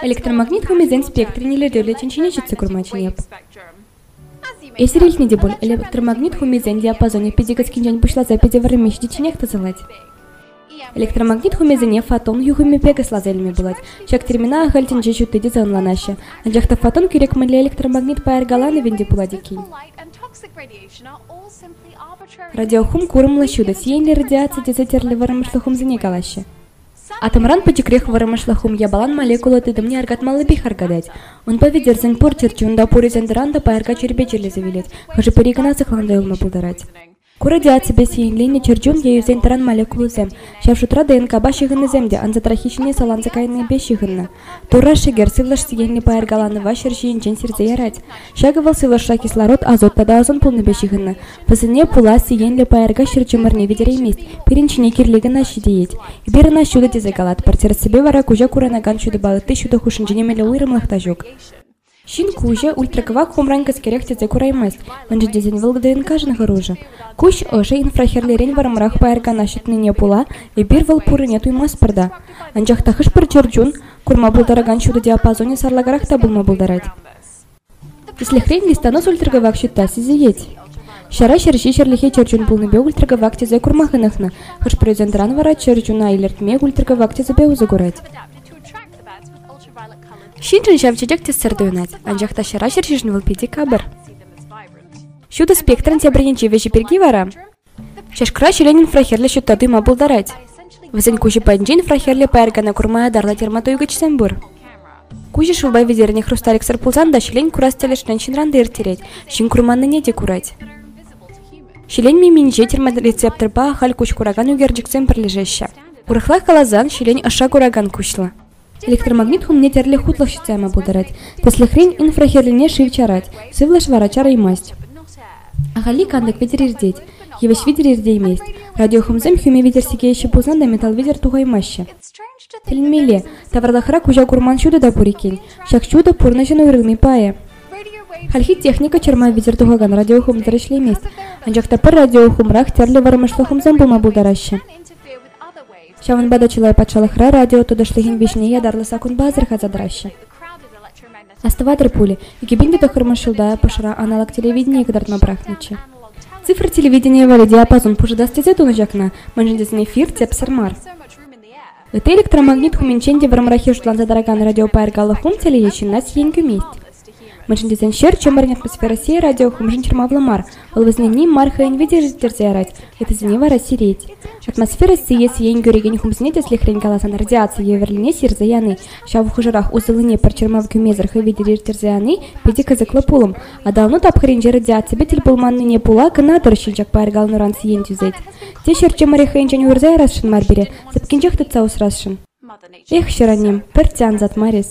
Электромагнит хумисен спектрӗн илӗртӳллӗ тӗнчине ҫитсе курма чӗнеп. Эсир илтнӗ те пуль, электромагнит хумисен диапазонӗ питӗ кӗскинчен пуҫласа питӗ вӗренме ҫитичченех тӑсӑлать. Электромагнит хумисене фотон юхӑмӗпе кӑсласа илме пулать. Ҫак термина ахаль тӗнче ҫутти тесе ӑнланаҫҫӗ. Анчах та фотон кирек мӗнле электромагнит пайӑркаланӑвӗн те пулать иккен. Радиохум курӑмлӑ ҫутӑ, сиенлӗ радиаци тесе тӗрлӗ вӑрӑмӑшлӑ хумсене калаҫҫӗ. Атомран пӗчӗкрех вӑрӑмӑшлӑх хум япалан молекула тытӑмне аркатмаллипех аркатать. Унпа витӗрсен пур чӗрчи унта пур ӳсен-тӑран та пайӑрка чирпе чирлесе вилет, хӑшӗ-пӗри кӑна сыхланса юлма пултарать. Ку радиаципе сиенленнӗ чӗрчун е ӳсен-тӑран молекулӑсем, ҫав шутра ДНКпа ҫыхӑннисем те, ансатраххи ҫине саланса кайнипе ҫыхӑннӑ. Турра шӗкер, сывлӑш сехенлӗ паяр каланӑва ҫӗр ҫийӗнчен сирсе ярать. Ҫакӑ вӑл сывлӑшра кислород, азот тата ӑсӑн пулнипе ҫыхӑннӑ. Вӗсене пула сиенлӗ паярка ҫӗр чӑмӑрне витереймест, пирӗн ҫине кирли кӑна ҫитӗнет. Эпир ӑна ҫутӑ тесе калатпӑр, тӗрӗссипе вара куҫа курӑнакан ҫутӑпа ытти ҫутӑ хушшинче нимӗнле уйрӑмлӑх та ҫук. Ҫын куҫӗ ультракӑвак хумран кӗскерех тӗсе кураймасть, мӗншӗн тесен вӑл ДНКшӑн хӑрушӑ. Куҫ ӑшӗ инфрахӗрлерен вӑрӑмрах пайӑркана ҫитнине пула эпир вӑл пуррине туймастпӑр та. Анчах та хӑш-пӗр чӗрчун курма пултаракан ҫутӑ диапазонӗ сарлакарах та пулма пултарать. Тӗслӗхрен, листанос ультракӑвак ҫутта сисӗнет. Ҫара ҫерҫи ҫӗрлехи чӗрчун пулнипе ультракӑвак тӗсе курма хӑнӑхнӑ, хӑш-пӗрисентран вара чӗрчуна илӗртме ультракӑвак тӗсӗпе усӑ курать. Ҫыншӑн ҫав чечек тӗссӗр туйӑнать, анчах та ҫӑра ҫерҫишӗн вӑл питӗ капӑр. Ҫутӑ спектрӑн тепӗр енчи вӗҫӗ пирки вара чашкӑра ҫӗлен инфрахирлӗ ҫутта туйма пултарать. Вӗсен куҫӗ патӗнчен инфрахирлӗ пайӑркана курма ятарлӑ термотуйгӑчсем пур. Куҫӗ шывпа витӗрнӗ хрусталиксӑр пулсан та ҫӗлен курас тӗлӗшрен ҫынран та ирттерет, ҫын курманнине те курать. Ҫӗлен миминче терморецепторпа ахаль куҫ куракан ӳкерчӗксем пӗрлешеҫҫӗ. Урӑхла каласан, ҫӗлен ӑша куракан куҫлӑ. Электромагнит хумне тӗрлӗ хутлӑх ҫутарма пултарать. Тӗслӗхрен, инфрахӗрлине шыв чарать, сывлӑш вара чараймасть. Ахалли кантӑк витӗр иртет, йывӑҫ витӗр иртеймест. Радиохумсем хӳме витӗр сикеҫҫӗ пулсан та металл витӗр тухаймаҫҫӗ. Тӗлӗнмелле, тавралӑхра куҫа курман ҫутӑ та пур иккен. Ҫак ҫутӑ пурнӑҫӑн уйрӑлми пайӗ. Хальхи техника чӑрма витӗр тухакан радиохумсӑр ӗҫлемест, анчах та пӗр радиохумрах тӗрлӗ вӑрӑмӑшлӑ хумсем пулма пултараҫҫӗ. Ҫавӑнпа та чылай патшалӑхра радио туташлӑхӗн виҫине ятарлӑ саккунпа асӑрхаса тӑраҫҫӗ. Астӑватӑр пулӗ, икӗпин те тӑххӑрмӗш ҫулта Пӑшӑра аналог телевидение кӑтартма пӑрахнӑччӗ. Цифра телевиденийӗ валли диапазон пушӑтас тесе тунӑ ҫакна, мӗншӗн тесен эфир тӗпсӗр мар. Ытти электромагнит хумӗнчен те вӑрӑмраххи шутланса тӑракан радиопайӑркаллӑ хум телейӗ ҫынна сиен кӳмест. Мӗншӗн тесен ҫӗр чӑмӑрӗн атмосферӑсси радиохумшӑн чӑрмавлӑ мар, вӑл вӗсенни мар хӑйӗн витӗ ӳстерсе ярать, йӑтӑсене вара сирет. Атмосфера сийӗ сиен кӳрекен хумсене тӗслӗхрен каласан радиаци евӗрлине сирсе яни, ҫав хушӑрах усӑллине пӗр чӑрмав кӳмесӗр хӑй витӗр ирттерсе яни питӗ кӑсӑклӑ пулӑм. Аталану тапхӑрӗнче радиаципе тӗл пулманнине пула кӑна-тӑр ҫилчак пайӑркалануран сиен тӳсет. Те ҫӗр чӑмӑрӗ хӑйӗнчен уйӑрса ярасшӑн мар пире, сыпкинчех тытса усрасшӑн. Эх, ҫӗр аннем, пӗртте ансат мар эс.